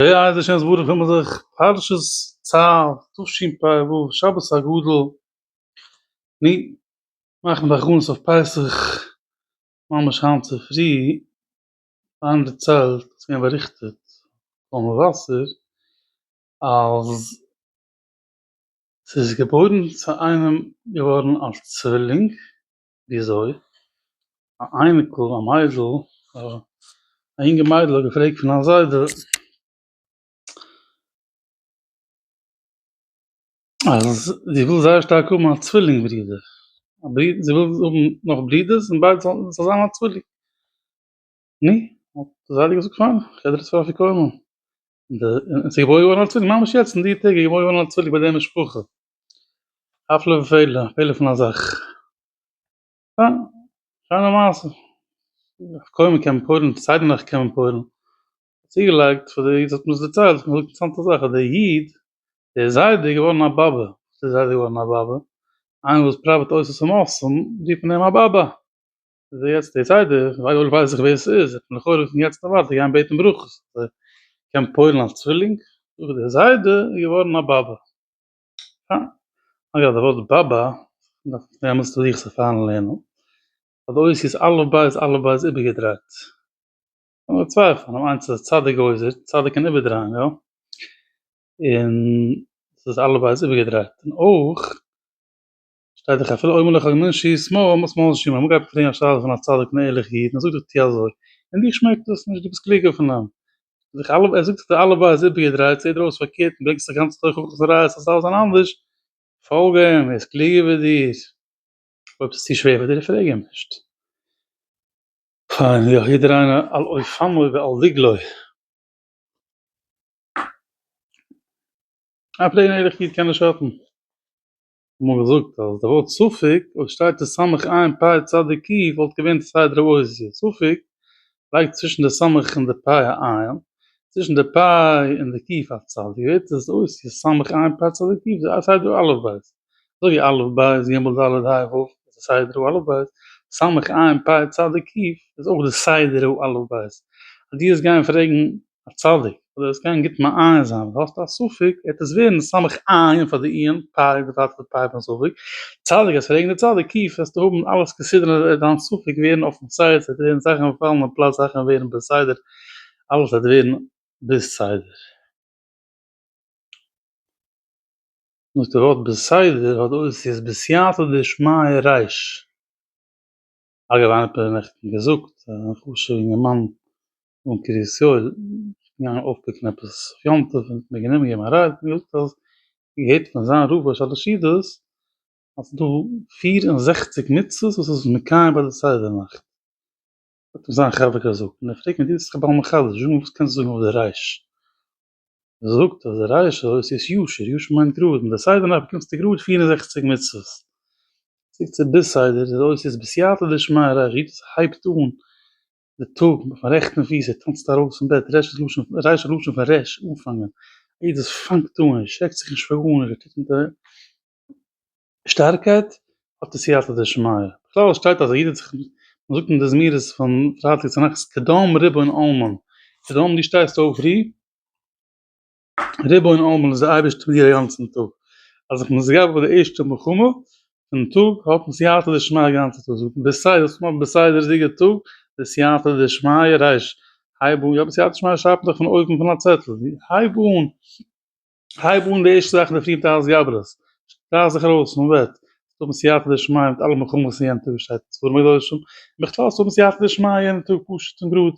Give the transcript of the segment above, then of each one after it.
בעזרת השם יתברך וועל מיר זיך פרשת צו תשפ ו שבת הגדול ני מאכן די הכנות אויף פסח ממש היינט צופרי פארן דערציילט ס'איז געווען באריכטעט קול מבשר אז ס'איז געבוירן צו איינעם געווארן א צווילינג וויאזוי? א אייניקל, א מיידל, א אינגע מיידל האט געפרעגט פון א זיידע, אז זי וויל זייער שטארק האבן א צווילינג ברודער, א ברודער, זי וויל האבן נאך ברודערס און ביידע זאלן, ס'זאל זיין א צווילינג. נו, האט די זיידע געזאגט, פיין, כ'עדער עס פאר אפיקומן. און ס'איז געבוירן געווארן א צווילינג, ממש יעצט אין די טעג איז געבוירן געווארן א צווילינג ביי די משפחה. הפלא ופלא, א פלא פון א זאך. יא, שיינע מעשה. קוים מען קען פורים, סיידן אויך קען מען פורים. צוגעלייגט פאר די איד האט מיר עס דערציילט, האט מיר געזאגט אינטערסאנטע זאך, אז דער איד, דער זיידע איז געווארן א באבע. וואס איז זיידע געווארן א באבע? איינער וואס פראוועט אויס עס צום אויסצאלן, רופט מען אים א באבע. איז ער יעצט דער זיידע, אויב ווייס איך ווער עס איז, וועט מען לכאורה פון יעצט און ווייטער גיין בעטן ברכות, אז ער קען פועל'ן אלס צווילינג. דער זיידע איז געווארן א באבע. אגב די ווארט בא בא דארף מען זעהן וואס תלוי איך זיך פארן לערנען ביי די אויסיס א' בא איז א' בא איז איבערגעדרייט קען מען צווייפלען אויב איינס איז א צדיק גוזר צדיק קען איבערדרייען יא און ס'איז א' בא איז איבערגעדרייט און אויך שטייט דאך אפילו אומר לך מנשי שמאל מות שמאל נשימה אמאל גייט מען פרעגן א שאלה פון א צדיק און ערליך איד און ער זאגט דיר טו אזוי און דיר שמעקט דאס נישט דו ביסט קלוגער פון אים זיך אלע ער זאגט זיך אלע בייז איבערגעדרייט ס'זעט דיר אויס פארקערט און ברענגסט א גאנצע תוכחה וואס ראיות אז ס'דארף זיין אנדערש פאלג אים ער איז קלוגער ווי דיר אויב ס'איז צו שווער פאר דיר פרעג אים נישט. פיין יא יעדער איינער על אופניו ועל דגלו. א פלעין ערליך איד קען נישט שאטן. האבן געזאגט אז די ווארט ספק אויב שטייט עס סמוך עין פאי צדי קי וואלט געווען צד ר' עוזי', ספק לייגט צווישן די סמוך און די פאי א עין, צווישן די פאי און די קי א צד, ווערט עס עוזי' סמוך עין פאי צדי קי וזה סדר א' ב', אזוי ווי א' ב' ג' ד' ה' ו' איז די סדר א' ב', סמוך עין פאי צדי קי איז אויך די סדר א' ב', אז דו וועסט גיין פרעגן א צדיק, אדער עס קען גוט מעיין זיין, אויב האסטו א ספק, העט עס ווערן סמך עיין פאר די עיון, פאר די פאר די פאר פון ספק, צדיק אז פרעגן די צדיק קיף וועסטו האבן אלעס כסדר און וועט דיין ספק ווערן אויפן סייד, ס'עט ווערן זאכן פאלן אין פלאץ זאכן ווערן בסדר, אלעס וועט ווערן בסדר. דאס די ווארט בסדר האט די אותיות בסייעתא דשמיא רייש. אגב איינער האט מיר נעכטן געזאגט אז א חשובע אינגערמאן און קרית יואל איז געגאנגען אויפפיקן עפעס אויף יום טוב און האט מיר גענומען געבן א רייד און געזאגט אז ער האט געהערט פון זיין רב ראש החסידות אז ס'איז דא פֿיר און זעכציק מצוות וואס איז מקיים ביי די סדר נאכט האט אים זיין חבר געזאגט און ער פרעגט מיר דו ביסט זיך א בעל מחדש זאג מיר וואס קענסטו זאגן אויף די רייש מען זאגט אז ר' ישעי' איז ישר, ישר מיינט גראד, און די סדר נאך באקומסטו גראד פֿיר און זעכציק מצוות, צוריק צו ביז סדר זעט אויס איז בסייעתא דשמיא ר' ישעי'ס הייבט אן די טאג אויפן רעכטן פיס ער טאנצט ארויס פון בעט, רעש איז לשון, רייש איז לשון פון רעש, אנפאנגען, יעדעס פאנגט אן, ער שרעקט זיך נישט פאר גארנישט, ער טוט מיט א. שטארקייט האט עס סייעתא דשמיא. בכלל שטייט אז א איד האט זיך, מען זאגט אין די זמירות פון פרייטאג צו נחת, קדם ריבון עולמים, קדם דו שטייסט אויף פרי, ריבון עולמים איז די אייבערשטער מיט דיר א גאנצן טאג, אז איך בין מסגף ביי די ערשטע מלחמה פון טאג האט מען סייעתא דשמיא א גאנצע טאג, זאגט מען בסדר דאס מאכט בסדר'דיגע טאג די סייעתא דשמיא, ר' הייב אן, יא די סייעתא דשמיא שרייבט מען דאך פון אויבן פון א צעטל, הייב אן. הייב אן די ערשטע זאך אינדערפרי מיט אלע סגברות, שטרייך זיך ארויס פון בעט, זאלסט האבן סייעתא דשמיא מיט אלע מלחמות אין יענטע וואס שטייט אין ספרים הקדושים, און בכלל זאלסט האבן סייעתא דשמיא יענע טאג פשוט און גראד,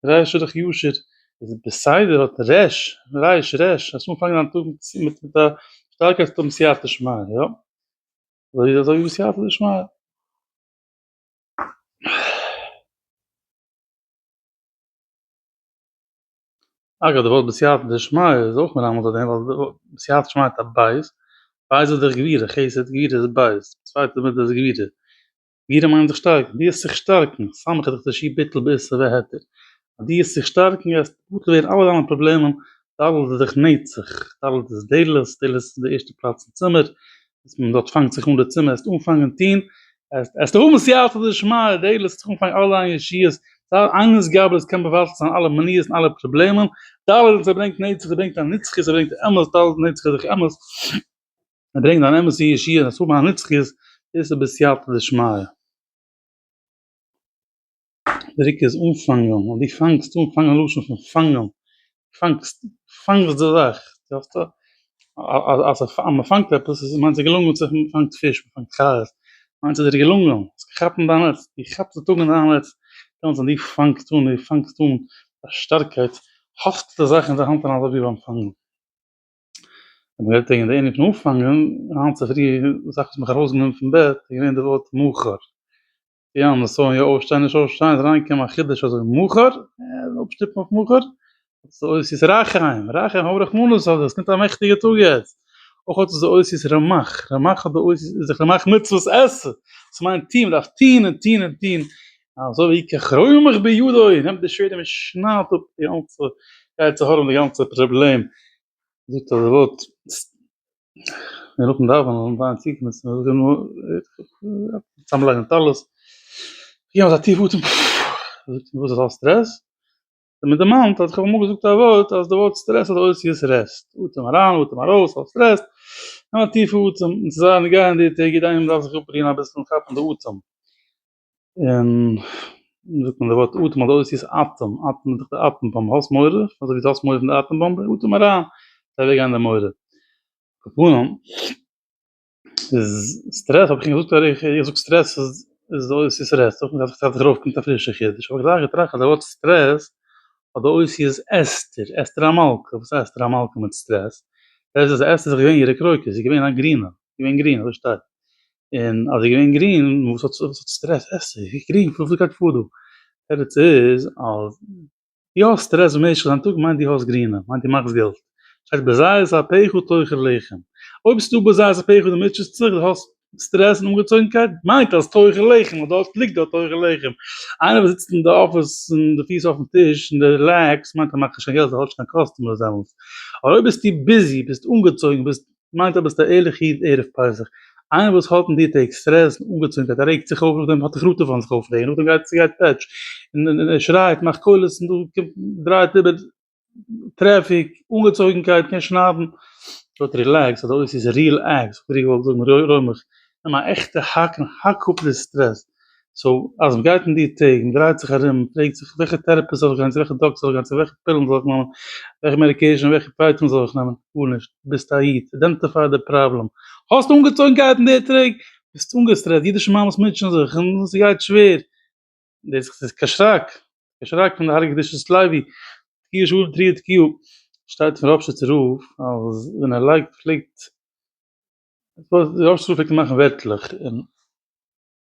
ר' שילך ישר איז בסדר האט ר' רייש ר' האסט אנגעפאנגען דיין טאג מיט מיט א שטארקייט זאלסט האבן סייעתא דשמיא, יא? אזוי אזוי ווי סייעתא דשמיא. אגב די ווארט בסייעתא דשמיא איז אויך מרמז אויף דעם ווייל די ווארט בסייעתא דשמיא מיינט א בית, בית איז דאך גבירה, חסד גבירה איז בית, די צווייטע מידה איז גבירה, גבירה מיינט זיך שטארקן, דו וועסט זיך שטארקן, סמך איז דאך די שי ביטול בעשה והתר, אז דו וועסט זיך שטארקן וועסט בטל ווערן אלע דיינע פראבלעמען, טאלנט איז דאך נצח, טאלנט איז דלות, דלות איז די ערשטע פלאץ אין צימער, אז מען דארט פאנגט זיך אן די צימער עסט אנפאנגען טוהן עסט האבן סייעתא דשמיא די עלעס טראגן פאר אלע ישועות ווייל איינער'ס גאב ד קען מבטל זיין אלע מניעות און אלע פראבלעמען ד עלעס עס ברענגט נצח עס ברענגט א נצחיות עס ברענגט אמת ד עלעס נצח איז דאך אמת עס ברענגט אן אמת'ע ישועה עס האבן א נצחיות דאס איז בסייעתא דשמיא. דריק איז אנפאנגען, און דו פאנגסט אן, פאנגען לשון פון פאנגען, פאנגסט, פאנגסט די זאך, כאפסט? אז מ'פאנגט עפעס איז מיינט עס געלונגען, צו מ'פאנגט פיש, מ'פאנגט חיות, מיינט עס איז דיר געלונגען, האסט געכאפן דיין נעץ, דו כאפסט די טאג אין דיין נעץ, דעמאלטס ווען דו פאנגסט אן, דו פאנגסט אן א שטארקייט, האסטו די זאך אין די האנט און אזוי ווי ביים פאנגען. האבן גערעדט וועגן די ענין פון אנפאנגען, היינט צופרי זאך האט מיך ארויסגענומען פון בעט, איז געווען די ווארט מאוחר, יא נשוי יא אויפשטיין נישט אויפשטיין איז אריינגעקומען א חידוש אזוי מאוחר, אפשטופן אויף מאוחר, אוי ס'איז רח הים, רח הים האב רחמנות אוי ס'קומט א מעכטיגע טאג יעצט, אויך האט עס די אותיות רמח, רמח האט די אותיות איז זיך רמח מצוות עשה, ס'מיינט טוהן, מ'דארף טוהן און טוהן און טוהן, אזוי ווי ככרמך בידו, נעמט די שווערד און מ'שניידט אפ די גאנצע יצר הרע און די גאנצע פראבלעם, זאגט אז ער וואלט. נאכן דאווענען און זיין צוקומען צו מיר זאגט ער צוזאמלייגן טלית גענומען א טיף אטעם זאגט וואס איז אלס סטרעס האט ער מיר דערמאנט אז איך האב אמאל געזאגט א ווארט אז די ווארט סטרעס האט די אותיות רעסט אטעם אריין אטעם ארויס אלס סטרעס נעם א טיפע אטעם און ס'זאל נישט גיין די טעג יעדע איינעם דארף זיך אפרוען אביסל און כאפן די אטעם. און ווי זאגט מען די ווארט אטעם אדורך איז אטעם, אטעם איז דאך די אטעם באמבע, האסט מורא? אזוי ווי דו האסט מורא פון די אטעם באמבע, אטעם אריין, גייט אוועק גיין די מורא. קאפאנען, איז סטרעס האב איך שוין געזאגט אויך, איך זאג סטרעס איז די אותיות סרעס, אויך נישט אז אויף קומט א פרישע חידוש, אבער איך האב געדארפט געטראכט אז די ווארט סטרעס האט די אותיות אסתר, אסתר המלכה, וואס איז אסתר המלכה מיט סטרעס? סטרעס איז אסתר איז דאך געווען אירע קרויטער, זי איז געווען א גרינע, געווען גרין אזוי שטארק און אז איז געווען גרין וואס האט וואס האט סטרעס עסט עס ווי גרין וואס גייט פאר דא תירוץ איז אז די האסט סטרעס במשך דיין טאג מיינט די האסט גרינע מיינט די מאכסט געלט שטייט בזעת אפיך תאכל לחם אויב ביסטו בזעת אפיך די מוטשעסט זיך די האסט סטרעס און אנגעצויגנקייט מיינט אז תאכל לחם און דארט ליגט דארט תאכל לחם איינער וואס זיצט אין די אפיס און די פיס אויפן טיש און די לעקס מיינט ער מאכט נישט קיין געלט ער האט נישט קיין קאסטומערס דעמאלטס אבער אויב ביסטו ביזי ביסט אנגעצויגן ביסט מיינט אז ביסט א ערליך איד ערב פסח. איינער וואס האט אין די טעג סטרעס און אנגעצוינקייט א רעגט זיך אויף נאכדעם האט ער ראטעווען זיך אויף דעם נאכדעם גייט ס'גייט פעטש און ער שרייט מאכט קולות און דא קומט דרייט איבער טרעפיק אנגעצויגענקייט קען שניידן דארט רילעקס אדער אויב ס'איז ריל עקס וואלט איך געזאגט רוי רוי מיך נעם א עכטע האקן האק אפ די סטרעס סאו אז מ'גייט אין די טעג, מ'דרייט זיך ארום, מ'פרעגט זיך וועלכע טערעפיסט זאל איך גיין, צו וועלכע דאקטער זאל איך גיין, צו וועלכע פילן זאל איך נעמען, וועלכע מעדיקעישן און וועלכע פייטונג זאל איך נעמען, גארנישט, ביסט א איד, אידענטיפיי די פראבלעם, האסט אנגעצויגנקייט אין די טעג, ביסט אנגעסטרעסט, אידישע מאמעס מוטשען זיך און ס'גייט שווער, דאס איז קיין שרעק, קיין שרעק פון די הרה ג קדושת לוי תקיע שול תרי ד קיו שטייט פון ראפשיצער רב אז ווען ער לייגט פלעגט, ראפשיצער רב פלעגט אים מאכן ווערטלעך און.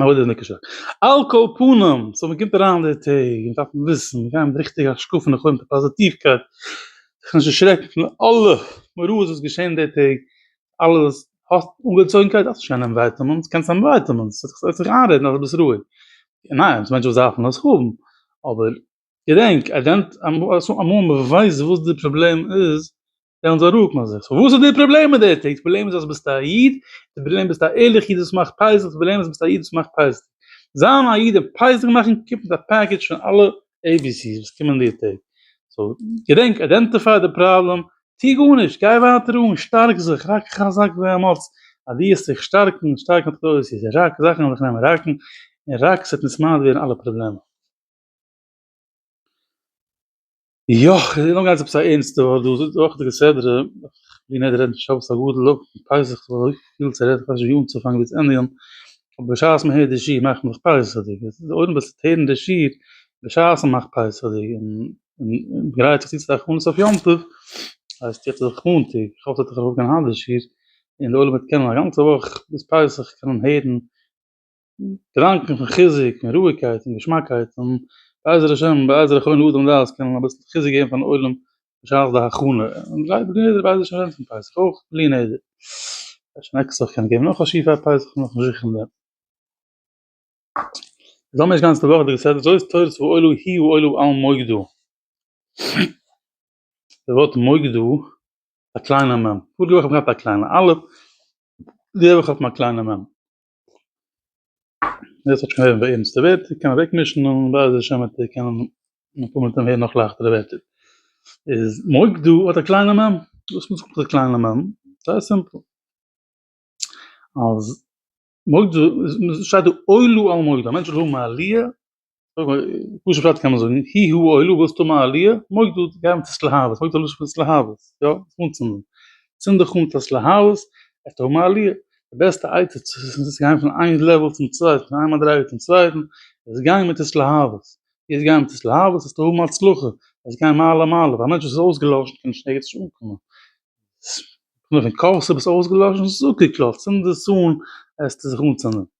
אבער דאס איז נישט קשור. על כל פנים, סאו מען קומט אריין די טעג, מען דארף וויסן, מען גייט מיט די ריכטיגע השקפה און מיט די פאזיטיווקייט, זיך נישט דערשרעקן פון אלע מראות וואס געשען די טעג, אלעס, האסט אנגעצויגנקייט, האסט נישט קיין ענווייטעמענטס, קענסט ענווייטעמענטס, זאל זיך זאל זיך איינרעדן אז דו ביסט רואיג, ניין, ס'מענטשן וואס דארפן עס האבן, אבער געדענק, אמאל מען ווייסט וואס די פראבלעם איז, וועלן זיי רוקן זיך. סאו וואס איז די פראבלעם מיט די טעג? די פראבלעם איז אז ביסט א איד, די פראבלעם ביסט א ערליכע איד וואס מאכט פייסעס, די פראבלעם איז ביסט א איד וואס מאכט פייסעס. זיין א איד און פייסעס מאכן קומט מיט א פעקעדזש פון אלע עי בי סי'ס וואס קומען די טעג. סאו געדענק, איידענטיפיי די פראבלעם, טוה גארנישט, גיי ווייטער אן, שטארק זיך, רק חזק ואמץ, אז דו וועסט זיך שטארקן און שטארקן האט גרויס איז, רק זאכן וועלן זיך נעמען ראקן, און רק ס'וועט נישט מיינט ווערן אלע פראבלעמען. יא, איך וויל אנגיין צו עפעס א ערנסטע ווייל דא איז אויך די כסדרה, בלי נדר רעדן פון שבת הגדול אויך פון פסח כ'האב אזוי פיל צו רעדן כ'ווייס נישט ווי אנצופאנגען ווי צו ענדיגן, אבער בשעת מען הערט די שיעור מאכט מען זיך פסח'דיג, עס איז אויב מען זיצט הערן די שיעור בשעת מען מאכט פסח'דיג און און גרייט זיך צו צו די הכנות אויף יום טוב, הייסט יעצט איז מאנטאג, כ'האף ס'וועט זיך ארויפגיין היינט די שיעור און די עולם וועט קענען א גאנצע וואך ביז פסח קענען הערן געדאנקען פון חיזוק און רואיגקייט און געשמאקייט און בעזר השם בעזר כל אדם דעת קענען אביסל חיזוק געבן פארן עולם בשעת די הכנה און גלייב מיר יעדער בעזר השם ווערט פון פסח אויך בלי נדר אפשר נעקסט וואך קען געבן נאך א שיעור פאר פסח כ'בין נאכנישט זיכער אין דעם זאל מען נישט גאנץ די וואך די כסדר זוי איז תורת ואוילו הי' ואוילו על מוקדו די ווארט מוקדו א קליינע מ' פאריגע וואך האב איך געהאט א קליינע א' די וואך האט מען א קליינע מ' דאס האט שוין ביי אונז די ווערטער קען מען אוועקמישן און בעזר השם וועט איר קענען נאך פאר מיט דעם הערן נאך לייכטערע ווערטער איז מוקדו האט א קליינע מ' וואס מיינט מיט א קליינע מ'? זייער סימפל אז מוקדו שטייט דא עולו על מוקדו א מענטש זאל האבן א עליה פשוט פשט קען מען זאגן, הי הא אוהלו ווילסט האבן א עליה, מויג דא גיי מיט עס להבות, מויג דא לויש מיט עס להבות, יא, זיך אנצינדן, צינד דיך אן מיט עס להבות, וועסט האבן א עליה, די בעסטע עצה צו גיין פון איין לעוועל צום צווייטן, פון איין מדריגה צום צווייטן, איז גיין מיט עס להבות, ווי עס גיין מיט עס להבות וועסטו האבן הצלחה, וועסט גיין מעלה מעלה, ווייל א מענטש וואס איז אויסגעלאשן קען נישט ערגעץ נישט אנקומען, ס פון קאווע ס'ביסט אויסגעלאשן, זאג איר קלאר, צינד עס אן, וועסטו זיך אנצינדן.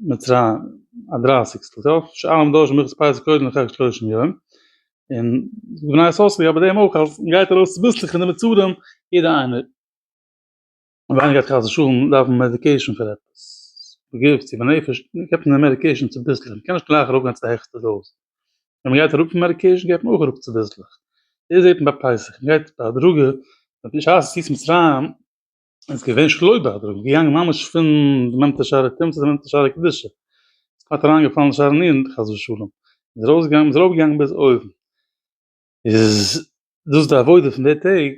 מצרים א דרייסיגסטל טוב שאר האבן דורש מנוחת פסח קודם לכן שלושים יום און בני ישראל זאגן אבער דעם אויך אז מ'גייט ארויס צוביסלעך פון די מצרים יעדע איינער און ווען גייט חס ושלום דארפן מעדיקעישן פאר עפעס בגוף צו בנפש געבט מען מעדיקעישן צוביסלעך מ'קען נישט גלייך ארויפגיין צו די העכסטע דאוז ווען מ'גייט אראפ פון מעדיקעישן געבט מען אויך אראפ צוביסלעך דאס זעט מען ביי פסח מ'גייט בהדרגה בשעת יציאת מצרים איז געווען שלא בהדרו, איז געגאנגען ממש פון די מנטע שערי טומאה צו די מנטע שערי קדושה, איז כמעט אריינגעפאלן אין שערי נירן חס ושלום, איז ארויסגעגאנגען איז ארויפגעגאנגען ביז אויבן, איז דאס די עבודה פון די טעג,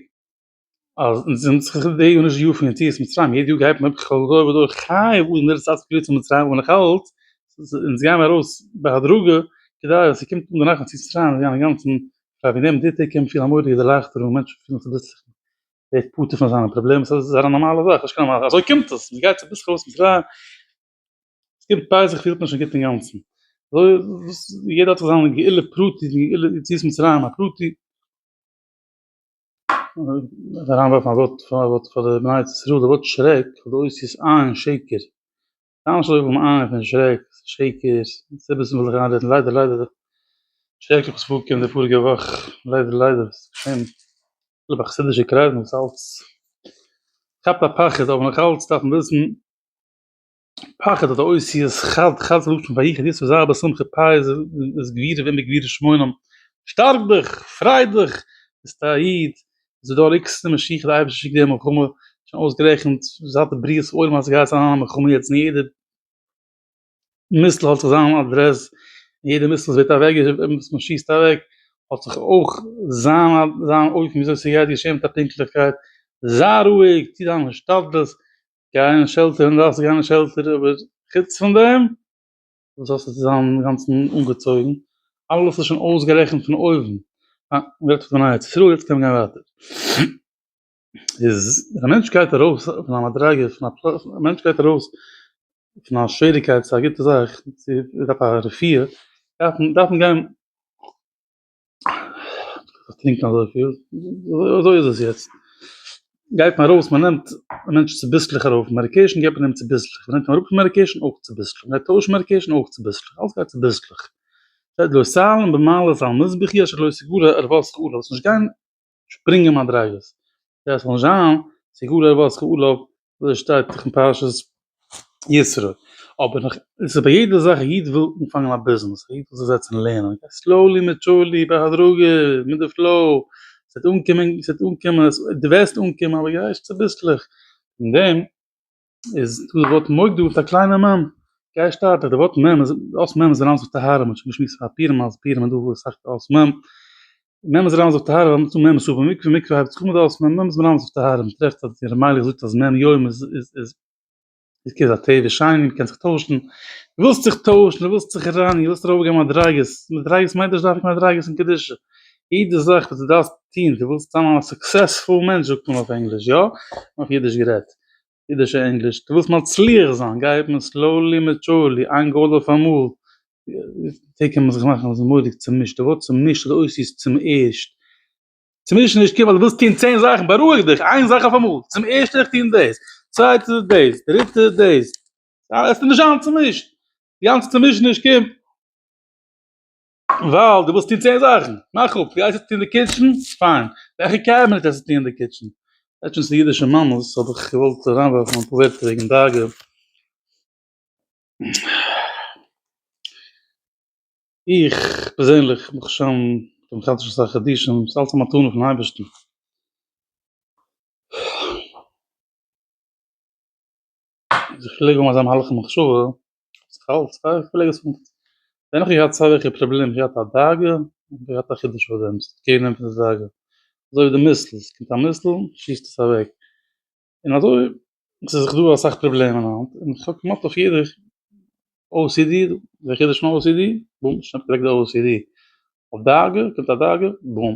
אז אונז זענען זיך די טעג און נישט די יאר פון יציאת מצרים, יעדע יאר גייט מען אויף כל דור ודור חי אוי מיר איז צייט צו קריצן און מצרים אבער נאכאלץ איז אונז גייען מיר ארויס בהדרגה כדי אז ס'קומט אן די נחת יציאת מצרים אינגאנצן, פאר ווי נעבן די טעג קען מען פילן א מורא'דיגע דערלייכטערונג, מענטשן פילן זיך פלוצלינג. ווערט פטור פון זיינע פראבלעמען, ס'איז זייער א נארמאלע זאך, נישט קיין נארמאל, אזוי קומט עס, מ'גייט צו פסח אויס מצרים, ס'קומט פסח פילט מען שוין גוט אינגאנצן, אזוי וואס יעדער האט זיך זיין גאולה פרטי, זיין גאולה יציאת מצרים א פרטי, מ'דארף אריינווארפן א ווארט פאר די בני ישראל, די ווארט שרעק האט די אותיות ע' און שקר, ממש לויף אום איין פון שרעק, שעיקערס, סיבות פון וועלכע ארבעטן ליידער ליידער שרעקליך וואס פארגקומען די פאריגע וואך, ליידער ליידער וואס געשען אפילו ביי חסידישע קרייזן וואס אלץ כאפט א פחד אבער נאכאלץ דארף מען וויסן פחד אדער אותיות חד חד זאגט מען ויחד יצאו זיי בשמחה פייער זיי גבירים ווערן גביר שמונים שטארק דיך, פריי דיך, ביסט א איד, זיי דא ריקסט די משיח די אייבערשטער שיקט די מלחמה שוין אויסגערעכנט זייט בריאת עולם אז סגייט זיין א מלחמה יעצט אין יעדע מיסל האט זיך זיין אדרעס אין יעדע מיסל וואס ווערט אוועק וואס מען שיסט אוועק האט זיך אויך זיין זיין אופן וויאזוי סגייט געשען מיט א פונקטליכקייט זיי רואיג טוה דיין השתדלות גיי אין שעלטער ווען דו דארפסט גיין אין שעלטער אבער חוץ פון דעם. וואס האסטו צו זיין אינגאנצן אנגעצויגן? אלעס איז שוין אויסגערעכנט פון אויבן. אה, מ'רעדט דאך פון א עצה. פירל, יעצט קען מען גיין ווייטער. איז, ווען א מענטש גייט ארויס פון א מדריגה, פון א פ, א מענטש גייט ארויס פון א שוועריקייט צו א גוטע זאך, צו, ער דארף א רפואה, דארף מען, דארף מען גיין, טרינקן אזויפיל, אזוי איז עס יעצט, גייט מען ארויס מען נעמט מענטשן צוביסלעך ארויף מעדיקעישן גיבט מען אים צוביסלעך, מ'נעמט אים אראפ פון מעדיקעישן אויך צוביסלעך, מ'גייט טוישן מעדיקעישן אויך צוביסלעך, אלעס גייט צוביסלעך, שפרינגען מדריגות דאס זאל נישט זיין צו גאר ער וואס כעל אויף אזוי שטייט דאך אין פרשת יתרו אבער נאך עס איז ביי יעדע זאך א איד וויל אנפאנגען א ביזנעס א איד וויל זיך זעצן לערנען סלאולי מיט טשולי בהדרגה מיט די פלאו ס'עט אנקומען ס'עט אנקומען די וועסט אנקומען אבער גייסט צוביסלעך אין דעם. איז דא די ווארט מוג דא מיט א קליינע מ' גיי שטארק דיך די ווארט מ' איז אות מ' איז אריין זיך טהרה מ'האט שוין געשמועסט פאר פורים אז פורים איז דא וואס זאגט אות מ' מ' איז אריין זיך טהרה מ'האט מ' איז אויף מקווה מקווה הייבט זיך אן מיט די אות מ' מ' איז אריין זיך טהרה מ'טרעפט אז די רמ א זאגט אז מ' יום איז איז איז איז כ ז א טבע שני מ'קען זיך טוישן דו ווילסט זיך טוישן דו ווילסט זיך רייניגן דו ווילסט ארויפגיין מדריגות מדריגות מיינט נישט דווקא מדריגות אין קדושה יעדע זאך וואס דו דארפסט טון דו ווילסט זיין א סוקסעספול מענטש זאגט מען אויף ענגליש יא? אויף אידיש גערעדט אידישע ענגליש, דו ווילסט מצליח זיין, גיי אפ מיר סלאולי מעטשולי, איין גאל אויף אמאל, די קען מען זיך מאכן אז איז מורא'דיג צומישט, די ווארט צומישט איז אויסיס צום ערשט, צומישט איז נישט קעיר ווייל דו ווילסט טון צען זאכן, בארואיג דיך, איין זאך אויף אמאל, צום ערשט וויל איך טון דאס, צווייטער איז דאס, דריטער איז דאס, עס איז נישט זיין צומישט, די גאנצע צומישעניש קומט. ווייל דו ווילסט טון צען זאכן. מאך אפ, דו גייסט עס טון אין די קיטשן? פיין. וועלכע קעבינעט וועסטו טון אין די קיטשן? לעצטנס אין אידישע מאמעס האב איך געוואלט אריינווארפן אפאר ווערטער וועגן דאגה. איך פערזענליך מאך שוין דעם חדש עשרה חדשים, ס'איז אלץ א מתנה פון אייבערשטן. זיך פלעג האבן אזא מהלך מחשבה, זיך אלץ א פלעג עס האבן, ווען איך געהאט סיי וועלכע פראבלעם, געהאט א דאגה, האב איך געהאט א חידוש פאר דעם, ס'האט קעיר גענומען פון די דאגה, אזוי ווי די מיסל, ס'קומט א מיסל, שיסט עס אוועק, און אזוי, ס'איז דאך דא אסאך פראבלעמען היינט, און איך האב כמעט אויף יעדע ocd, די חידוש פון ocd, בום, שניידט אוועק די ocd, אויף דאגה, קומט א דאגה, בום.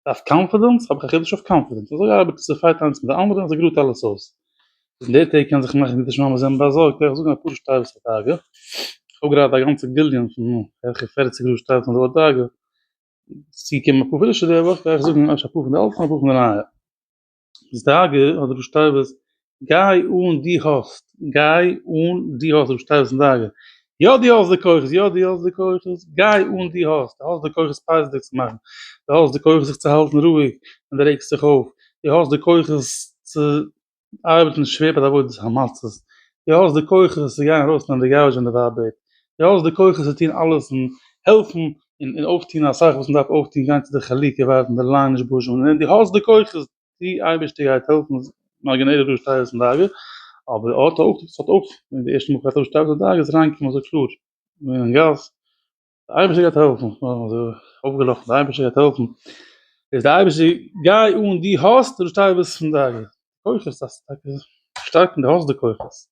אויף קאנפידענס האב איך א חידוש אויף קאנפידענס אזוי ארבעט עס ס'פייט איינס מיט די אנדערע און ס'גראדט אלעס אויס אין די טעג קען זיך מאכן אידישע מאמעס זענען באזארגט וועל איך זאגן אפאר שטייוועס אויף דאגה איך האב גראדע א גאנצע גליון פון בערך פערציג גראד שטייוועס אויף דאגה ס'געקומען אפאר פרישע די וואך וועל איך זאגן אפשר אפאר פון די אלטע און אפאר פון די נייע. זייגער האט ר' שטייבער'ס גיי אן דו האסט, גיי אן דו האסט ר' שטייבער'ס זייגער, יא דו האסט די כוחות, יא דו האסט די כוחות, גיי אן דו האסט, דו האסט די כוחות פייסעדיג צו מאכן, דו האסט די כוחות זיך צו האלטן רואיג ווען דו רעגסט זיך אויף, דו האסט די כוחות צו ארבעטן שווער ביי די עבודת המצות, דו האסט די כוחות צו גיין ארויסנעמען די גארבידזש ווען די ווייב בעט, דו האסט די כוחות צו טון אלעס און העלפן און און אויפטון אסאך וואס מ'דארף אויפטון גיין צו די חלוקה ווארטן די ליין נישט בוזשען און ווען דו האסט די כוחות טו אייבערשטער גייט העלפן איז נאר גענעדיג דו שטייער זיין דאגה אבער אט אט אט אט אט ווען די ערשטע מאל קראצט אויף שטייער זיין דאגה איז ריינקומען אזוי קלאר אין גאס די אייבערשטער גייט העלפן אויפגעלאכן די אייבערשטער גייט העלפן איז די אייבערשטער גיי אן דו האסט דו שטייער זיין דאגה כוחות אז טאקע שטארקן די האסט די כוחות.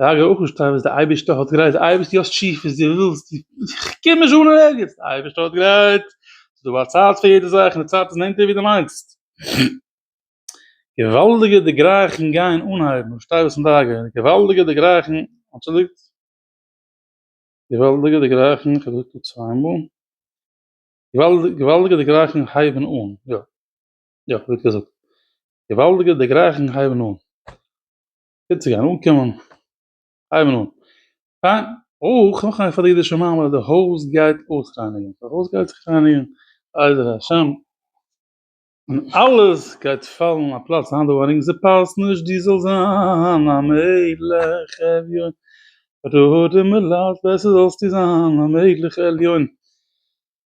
די הגה ח שטיין וואס די אייבערשטער האט גרייט, די אייבערשטער יאס טשי וואס די ווילסט, איך קום נישט אן אין ערגעץ, די אייבערשטער האט גרייט, ס'איז דא א צייט פאר יעדע זאך און די צייט איז נענטער ווי די מיינסט. געוואלדיגע דערגרייכונג גייען אנהייבן, איך פארשטיי וואס מ'דארף גיין, געוואלדיגע דערגרייכונג, אנטשולדיגט, געוואלדיגע דערגרייכונג, כ'האב געזאגט דא צוויי מאל, געוואלדיגע דערגרייכונג הייבן אן, יא, יא, כ'האב גוט געזאגט, געוואלדיגע דערגרייכונג הייבן אן. גוט צו גיין אנקומען, הייבן אן, פיין, אויך נאך א נפרד אידישע מאמר, די הויז גייט אויסרייניגן, די הויז גייט זיך רייניגן בעזר השם, און אלעס גייט פאלן אין א פלאץ, היינט דא ארינג ס'פאסט נישט דו זאלסט זיין א מלך עליון, ראה דעם מלאך בעסער זאלסטו זיין א מלך עליון.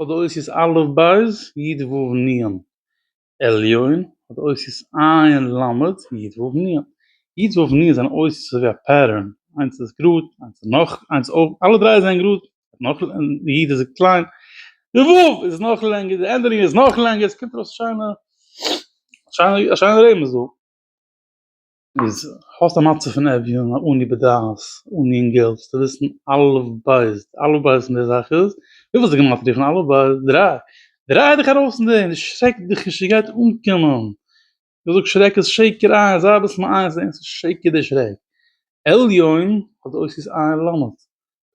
האט די אותיות א' בית י' ו' נ', עליון האט די אותיות עין ל' י' ו' נ', י' ו' נ' זענען אותיות אזוי ווי א פעטערן, איינס איז גראד, איינס איז נאך, איינס איז אויבן, אלע דריי זענען גראד, נאך י' איז קליין, די ו' איז נאך לענגער, די ענדערונג איז נאך לענגער, ס'קומט ארויס שיינע, שיינע, א שיינע רמז דא. איז האסט א מצב פון עווין א אני בדעת אן אינגעל זאלסטו וויסן אלף בית אלף בית אין די זאך איז וויפיל איז די גמטריא פון אלף בית? דריי דריי דיך ארויס פון דעם דאס שרעקט דיך נישט ס'גייט אנקומען כ'זאג שרעק איז שקר עין זיי אביסל מעיין זעהן ס'איז שקר די שרעק עליון האט די אותיות עין למד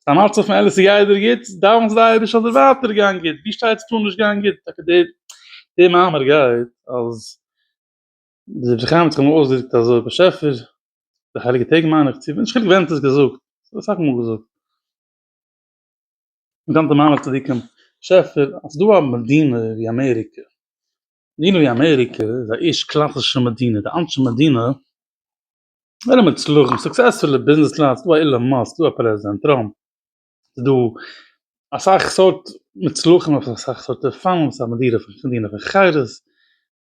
ס'איז א מצב פון אלעס ס'גייט דיר גוט דאווענסט די אייבערשטער זאל דיר ווייטער גיין גוט ווי שטייט ס'טאר נישט גיין גוט טאקע די די מאמר גייט אז. דער דברי חיים האט זיך אמאל אויסגעדרוקט אזוי, באשעפער, די הייליגע טעג מיין איך צו, נישט חילוק ווען האט עס געזאגט, ס'ווערט אסאך מאל געזאגט, גאנצע מעמד צדיקים, באשעפער, אז דא א מדינה ווי אמעריקע, מדינה ווי אמעריקע איז א ערשט קלאסישע מדינה, די אנשי מדינה זענען מוצלחים, סוקסעספולע ביזנעסלייט, ס'דא א אילאן מאסק, ס'דא א פרעזידענט טראמפ, ס'דא אסאך סארט מוצלחים אויף אסאך סארט אופנים, ס'איז א מדינה פון חירות.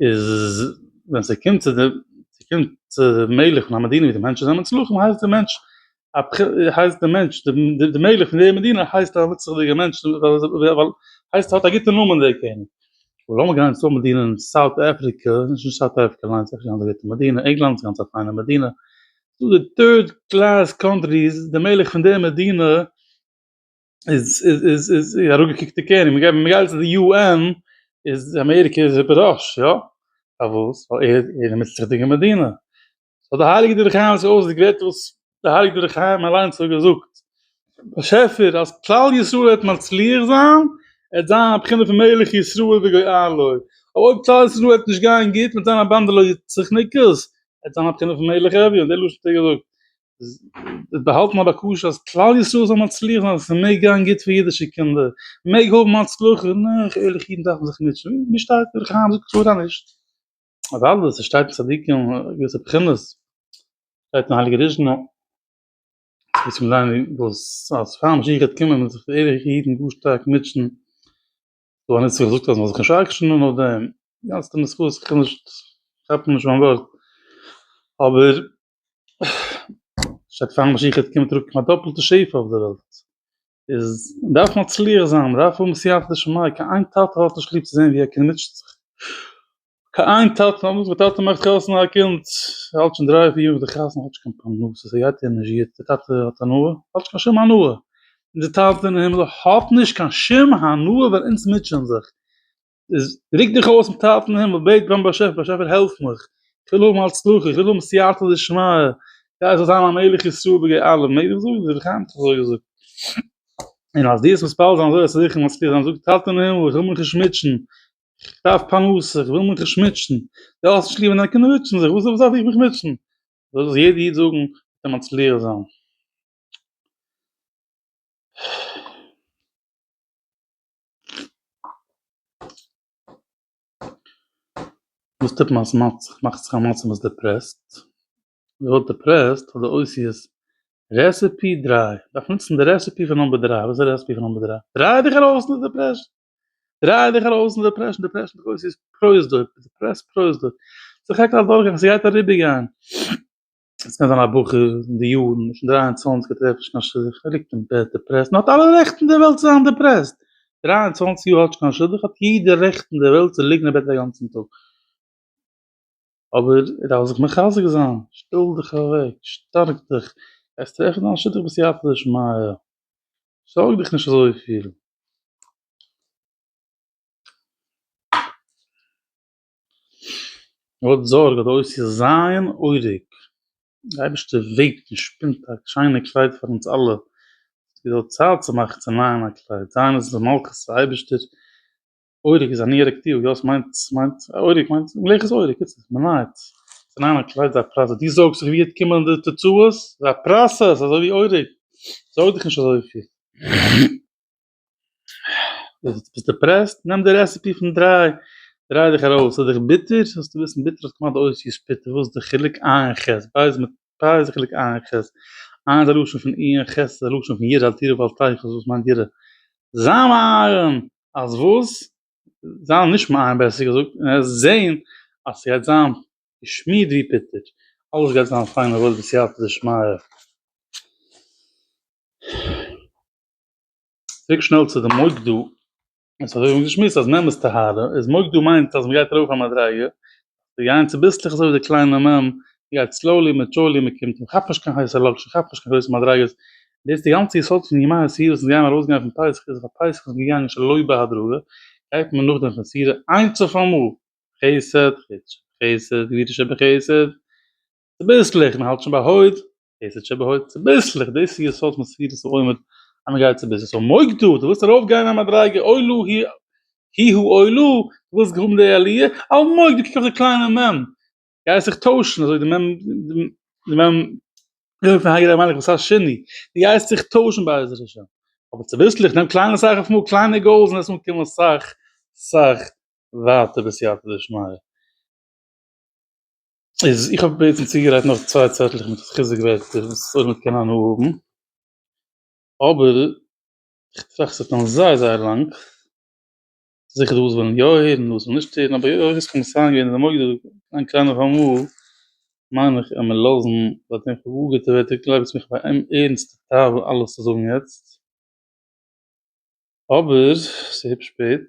איז ווען ס'קומט צו די ס'קומט צו די מלך פון א מדינה ווי די מענטשן זענען מצליחים הייסט די מענטש א הייסט די מענטש די מלך פון די מדינה הייסט א מצליח'דיגע מענטש ווייל הייסט ער האט א גוטע נאמען דער קעניג. לאמיר גיין צו א מדינה אין סאוט אפריקע, נישט אין סאוט אפריקע אליינס ס'איז נישט קיין אזוי גוטע מדינה, ענגלאנד איז גאנץ א פיינע מדינה, דא די טוירד קלעס קאנטריס די מלך פון די מדינה, איז איז איז איז איז אראפגעקוקט די קעניג, מ'גייט מיר גייט צו די יו ען איז אמעריקע איז איבער ראש, יא? פארוואס? ווייל ער איז א מצריות'דיגע מדינה. האט די הייליגע דברי חיים זיך אויסגעגרעדט וואס די הייליגע דברי חיים אליינס האט געזאגט, באשעפער אז כלל ישראל וועט מצליח זיין, עט זיין א בחינה פון מלך ישראל וגואל לו, אויב כלל ישראל וועט נישט גיין גוט מיט זיין א באנדע לא יצח'ניקעס, עט זיין א בחינה פון מלך אביון, די לשון האט ער געזאגט, באהאלט מען א בקשה אז כלל ישראל זאל מצליח זיין אז עס מעג גיין גוט פאר אידישע קינדער, מעג האבן הצלחה, נאך ערליכע אידן דארפן זיך מוטשען, ווי שטייט דער חיים זאגט קלאר אז נישט. אוודאי עס שטייט אין צדיקים געוויסע בחינות, שטייט אין הייליגע דזשנא, וואס קען זיין וואס אז פאר משיח גייט קומען וועלן זיך די ערליכע אידן גאר שטארק מוטשען, דא האט נצחון געזאגט אז מען זאל זיך נישט ארקשענען אויף דעם, די גאנצע נוסחאות, איך קען נישט, כאפ נישט מיין ווארט, אבער. שטייט פאר משיח קומט צוריק מיט א דאפלטע שפע אויף די וועלט, איז דארף מען מצליח זיין, מען דארף האבן סייעתא דשמיא, קיין איין טאטע האט נישט ליב צו זען ווי א קינד מוטשעט זיך, קיין איין טאטע, נאכדעם וואס די טאטע מאכט חתונה א קינד האלט שוין דריי פיר יאר נאך די חתונה האט נישט קיין פרנסה, ס'גייט איהם נישט גוט, די טאטע האט הנאה? האט נישט קיין שום הנאה, אונזער טאטע אין הימל האט נישט קיין שום הנאה ווען אונז מוטשען זיך, איז ריק דיך אויס מיט טייל פון הימל, בעט ביים באשעפער, באשעפער העלף מיך, איך וויל האבן הצלחה, איך וויל האבן סייעתא דשמיא, כדי איך זאל זיין א מלך ישראל בגי אלף, מעג איך זאגן? רבי חיים האט דאך אזוי געזאגט. און אז דו וועסט מתפלל זיין אזוי וועסטו זיכער מצליח זיין, זאג טאטע אין הימל, איך וויל מיך נישט מוטשען, איך דארף פרנסה, איך וויל מיך נישט מוטשען, דו האסט נישט ליב ווען דיינע קינדער מוטשען זיך, וואס דארף איך מיך מוטשען? זאל דאס יעדע איד זאגן, וועט ער מצליח זיין. וואס טוט מען אז מ'האט זיך מאכט זיך א מצב מ'איז דעפרעסט? מ'ווערט דעפרעסט פאר די אוסיעס רעסעפי דרײַ, דארף נוצן די רעסעפי פון נומבער דרײַ, וואס איז די רעסעפי פון נומבער דרײַ? דריי דיך ארויס פון די דעפרעשן! דריי דיך ארויס פון די דעפרעשן! דעפרעשן די אויסיעס פראסדוק, דעפרעסט פראסדוק, ס'איז א חלק פון א דורכגאנג, ס'גייט אריבערגיין. עס קען זיין א בחור אין די יארן נישט דרײַ און צוואַנציק ער טרעפט נישט קיין שידוך ער ליגט אין בעט דעפרעסט מען האט אלע רעכט אין די וועלט צו זיין דעפרעסט דרײַ און צוואַנציק יאר האטש קיין שידוך האט יעדער רעכט אין די וועלט צו ליגן אין בעט א גאנצן טאג אבער ער דארף זיך מחזק זיין שטעל דיך אוועק שטארק דיך גייסט טרעפן דיין שידוך בסייעתא דשמיא זארג דיך נישט אזויפיל. האט זארג האט אויס צו זיין אויריק. די אייבערשטער וועבט און שפינט א שיינע קלייד פאר אונז אלע. ס'איז געווען צייט צו מאכן צו נייען א קלייד. זיין איז די מלכות פון אייבערשטער. אויריק איז א ניו יארק טיל. יא ס'מיינט ס'מיינט אויריק מיינט מלכות אויריק. איצט מ'נייעט צו נייען א קלייד איז א פראסעס. דו זארגסט זיך ווי וועט קומען די תוצאות? ס'איז א פראסעס אזוי ווי אויריק. זארג דיך נישט אזויפיל. ביסט דעפרעסט? נעם די רעסעפי פון דריי דריי דיך ארויס ס'איז דיך ביטער זאלסטו וויסן ביטער האט כמעט די אותיות פיטער וואס איז די חילוק ע' און ח' פיי איז מיט פיי איז די חילוק ע' און ח', ע' איז א לשון פון אי און ח' איז א לשון פון ירא אל תירא ואל תיחס וואס מיינט ירא? זיין מעיין אז וואס? זיין נישט מעיין בעסער געזאגט און עס זעהן אז ס'גייט זיין געשמירט ווי פיטער אלעס גייט זיין פיין און וואויל בסייעתא דשמיא. צוריק שנעל צו די מוקדו, עס האט אויבן געשמועסט אז מ' איז טהרה, איז מוקדו מיינט אז מ'גייט ארויף א מדריגה, ס'גייען צוביסלעך אזוי ווי די קליינע מ' גייט סלאולי מיט טשולי מען קומט מ'כאפט נישט קיין הייסע לאקשן מ'כאפט נישט קיין גרויסע מדריגות, דאס די גאנצע יסוד פון ימי הספירה זינט גיימער ארויס גיין פון פסח איז ווייל פסח איז געגאנגען שלא בהדרגה, גייט מען נאכדעם פון ספירה איינס אויף אמאל, חסד, חסד, גביר תשב בחסד, צוביסלעך, מ'האלט שוין ביי הוד, דאס האט שוין באהויבט צוביסלעך, דאס איז יסוד מסירות העומד, אז מען גייט צוביסלעך, סאו מוג דו, דו ווילסט ארויפגיין א מדריגה, אוי לו ה' ה' הוא אוי לו, דו ווילסט האבן די עליה, אל מוג, דו קוק אויף די קליינע מ', גייסט זיך טוישן, אזוי די מ', די מ', די מ' פון ה' המלך וואס הייסט שני, דו גייסט זיך טוישן בעזרת השם, אבער צוביסלעך, נעם קליינע אסאך אויף מאל, קליינע גאולס און עס וועט קומען אסאך אסאך ווייטער בסייעתא דשמיא. איז איך האב בעצם צוגעלייגט נאך צוויי צעטלעך מיט חיזוק ווערטער וואס אויב מען קען הנאה האבן, אבער איך טראכט ס'וועט נעמען זייער זייער לאנג, זיכער דא וואס ווילן יא הערן און דא וואס ווילן נישט הערן, אבער היות עס קומט סיין געווען איז אמאל געווען דא איין קליינע פארמאל, מיין איך עמער לאזן ביי דעם כ'האב גאר גוטע ווערטער געלייגט וואס מיך ביי עם ערענסטע תאווה אלעס צו זאגן יעצט, אבער ס'היפש שפעט.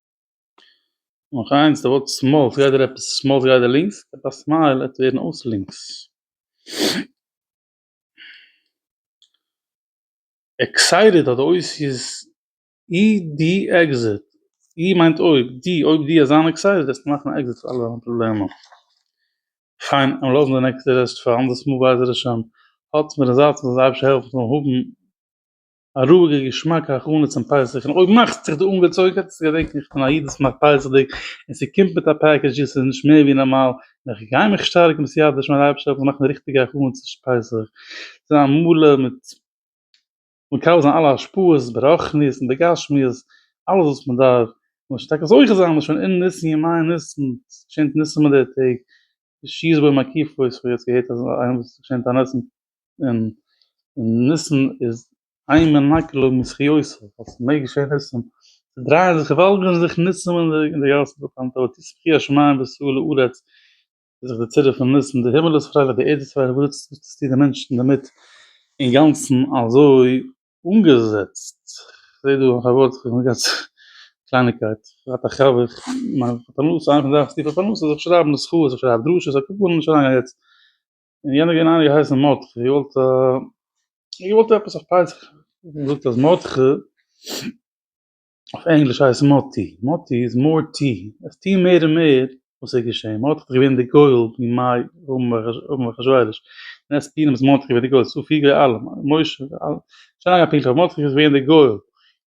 נאך איינס, די ווארט שמאל, עס גייט דיר עפעס שמאל עס גייט דיר לינקס, עפעס א סמייל עט ווערן אויס לינקס. עקסייטעד האט די אותיות אי די עקזיט, אי מיינט אויב, די אויב די זיין עקסייטעד וועסטו מאכן א עקזיט פאר אלע דיינע פראבלעמען. פיין, עמער לאזן די נעקסטע רעסט פאר אנדערס מאל בעזר השם, האלטס מיר אין זייט און זאלסט אייביג העלפן זאלן האבן א רואיגע געשמאקע הכנה צום פסח, און אויב מאכסטו זיך דא אנגעצויגן האט עס צו געדענקען איך בין א איד וואס מאכט פסח'דיג, און ס'קומט מיט א פעקעדזש ווי ס'איז נישט מער ווי נארמאל, און איך גיי מיך שטארקן בסייעתא דשמיא אז אייבערשטער זאל מיר מאכן ריכטיגע הכנות צו פסח, זיין מלא מיט מקבל זיין אלע השפעות ברוחניות און בגשמיות, אלעס וואס מען דארף, און מ'זאל טאקע זוכה זיין מ'איז שוין אין ניסן ימי ניסן, ס'געשענט ניסים אין די טעג, שיז בוי מקיף אויס, כ'האב יעצט געהערט אז איינער וואס איז געשענט א ניסן און ניסן איז איין מנקה לו מזכיותו, אז ס'מעג געשען ניסים, ס'דרייען זיך געוואלד אין זיך ניסים אין די גאסן דא קיין טעות איז בכי השמים ושאו לארץ, איז זיך די צירוף פון ניסים, די הימל איז פרייליך די ערד איז פרייליך, וואס זעצט עס צו די מענטשן אינדערמיט אינגאנצן אזוי אנגעזעצט, כ'זע דא אויף א ווארט איך האב נאר געהאט קלייניגקייט, כ'האט א חבר מיין פרנסה, איינער פון זיי האט טיפע פרנסה זיך שרייבן זכויות זיך שרייבן דרשות א קאפאל נישט אריינגיין יעצט. און יענער געווען איינער געהייסן מרדכי איר וואלט איר געוואלט עפעס אויף פסח האט מען געזאגט אז מרדכי אויף ענגליש הייסט מאטי מאטי איז מאר טי עס טי מער און מער וואס איז געשעהן מרדכי איז געווען די גואל אין מיי אום אום אחשורוש און עס פי נאמען איז מרדכי געווען די גואל סא פיגער אלעם משה שוין לאנג א פינטל מרדכי איז געווען די גואל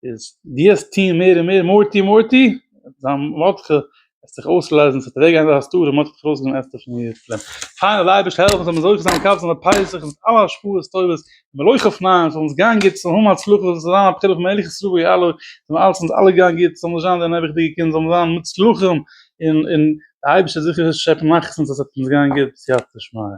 איז די האסט טוהן מער און מער מורטי מורטי, זיין מאטכע וועט זיך אויסלייזן, ס'וועט אוועק גיין די הסתרה, מ'האט דיך ארויסגענומען אסתר פון איר פלען. פיין אז די אייבערשטער העלפט אונז זאל מען זוכה זיין מקבל זיין די פסח און מיט אלע השפעות טובות, מלויך אויף ניין, ס'זאל אונז גיין גוט, ס'זאל האבן הצלחה, ס'זאל זיין א בחירה פון מלך ישראל ווי אלע, זאל אלץ אונז אלע גיין גוט, זאל מיר זיין די נעבעכדיגע קינדער זאלן זיין מוצלחים, און און די אייבערשטער זאל זיכער שעפן נחת פון אונז אז ס'וועט אונז גיין גוט, סייעתא דשמיא.